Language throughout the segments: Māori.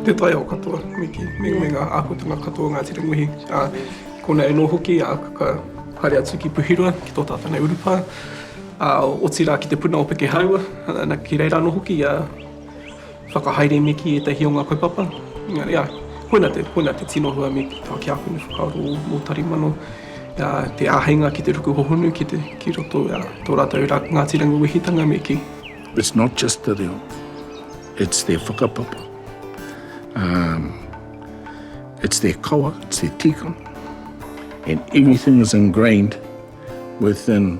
Te tae o katoa, Miki, me me nga akotanga katoa o Ngati Rangiwehi. A, konei anō hoki, a, ka haere atu ki Puhiroa, ki tō tātou nei urupā, a, otira ki te puna o Pekehaua, ana, ki reira anō hoki, a, whakahaere me ki ētahi o nga kaupapa. Engari, a, koina te, koina te tino hua me ki taua kia hune whakaaro o Tarimano. te āheinga ki te ruku hohonu ki roto i tō rātou Ngāti Rangiwehitanga me kī. It's not just te reo, it's their whakapapa, it's their kawa, it's their tikanga and everything is ingrained within.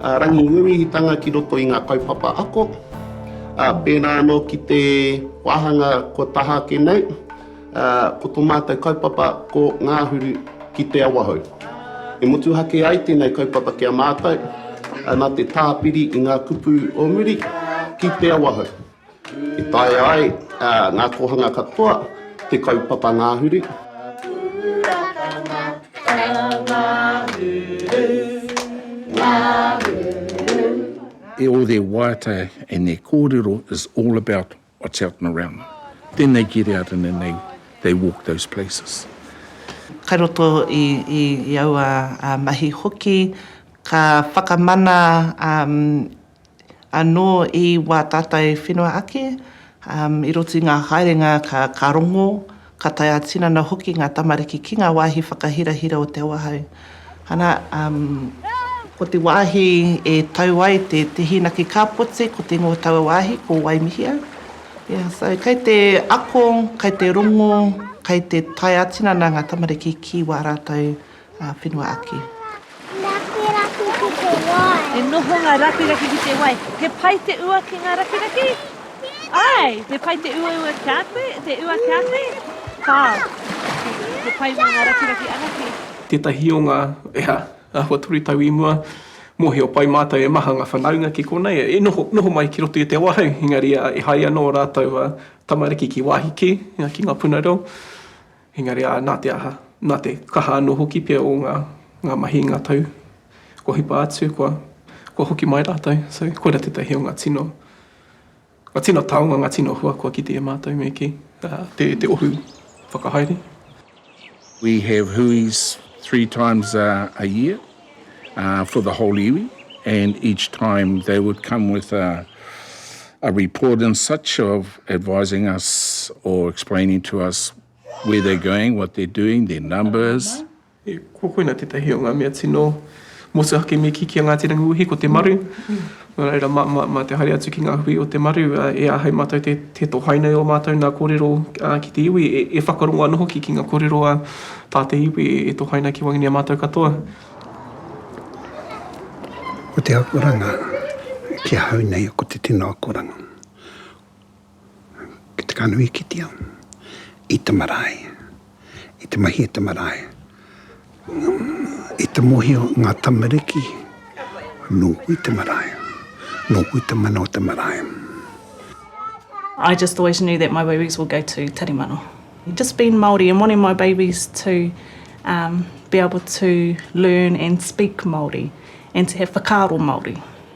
Ā, rangi ngungihitanga ki roto i ngā kaupapa ako, ā, pērā anō ki te wāhanga kua taha ake nei, ā, ko tō mātou kaupapa ko Ngāhuru ki Te Awahou. E motuhake ai tēnei kaupapa ki a mātou, ā, nā te tāpiri i ngā kupu o muri ki Te Awahou. I taea ai ngā kōhanga katoa te kaupapa ngahuru. E ō there waiata and their kōrero is all about what's out and around. Tēnei get out and then they walk those places. Kai roto i aua mahi hoki ka whakamana. Anō i wā tātai whenua ake, i roto i ngā haerenga ka rongo, ka tae ā-tinana hoki ngā tamariki ki ngā wāhi whakahirahira o te awahou. Ana, ko te wāhi e tau ai te hīnaki kāpoti, ko te ingoa o taua wāhi, ko Waimihia. So, kei te ako, kei te rongo, kei te tae ā-tinana ngā tamariki ki wā rātou Ngā whenua ake. Rakiraki ki te wai. E noho ngā rakiraki ki te wai. He pai te ua ki ngā rakiraki? Āe, he pai te uaua kia koe, te ua kia koe. Kāo. He pai mō ngā rakiraki anake. Tētahi o ngā, ea, āhua toru tau i mua, mōhio pai mātou e maha ngā whanaunga ki konei, e noho, noho mai ki roto i te awahou, engari, ā, e haere ana ō rātou, ā, tamariki ki wāhi kē, ā, ki ngā puna reo. Engari ā, nā te aha, nā te kaha anō hoki pea o ngā, ngā mahi i ngā tau kua hipa atu, kua, kua hoki mai rātou. So, koirā tētahi o ngā tino, ngā tino taonga, ngā tino hua kua kite e mātou me kī, ā, te, te ohu whakahaere. We have hui's three times a year. for the whole iwi and each time they would come with a a report and such of advising us or explaining to us where they're going, what they're doing, their numbers. Ko koina tētahi o ngā mea tino motuhake me kī ki a Ngāti Rangiwewehi ko te maru. Nō reira, mā te haere atu ki ngā hui o te maru, e āhei mātou te tohai nei ō mātou nā kōrero ki te iwi, e whakarongo ana hoki ki ngā kōrero a tā te iwi e tohai ana ki waenganui a mātou katoa. Ko te akoranga ki ahau nei ko te tino akoranga. ki te kanohi ki te ao, i te marae, i te mahi i te marae, i te mohio ngā tamariki, nōku i te marae, nōku i te mana o te marae. I just always knew that my babies will go to Tari Mano. Just being Māori and wanting my babies to be able to learn and speak Māori and to have whakaaro Māori.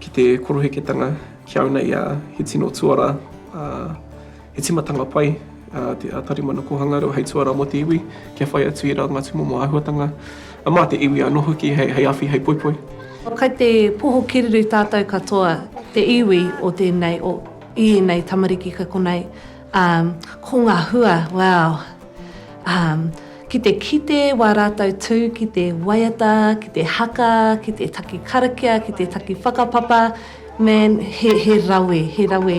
Ki te koroheketanga, kia una ia, he tino tuara, ā, he timatanga pai, ā, te Tarimana Kōhanga Reo hei tuara mō te iwi, kia whai atu i rā ngā tūmomo āhuatanga, ā, mā te iwi anō hoki hei, hei awhi, hei poipoi. Kai te poho kereru tātou katoa, te iwi o tēnei, o, i ēnei tamariki kei konei. Um, ko nga hua, wow. Um, ki te kite wa ratou tu ki te waiata, ki te haka, ki te taki karakia, ki te taki whakapapa, man, he, he rawe, he rawe.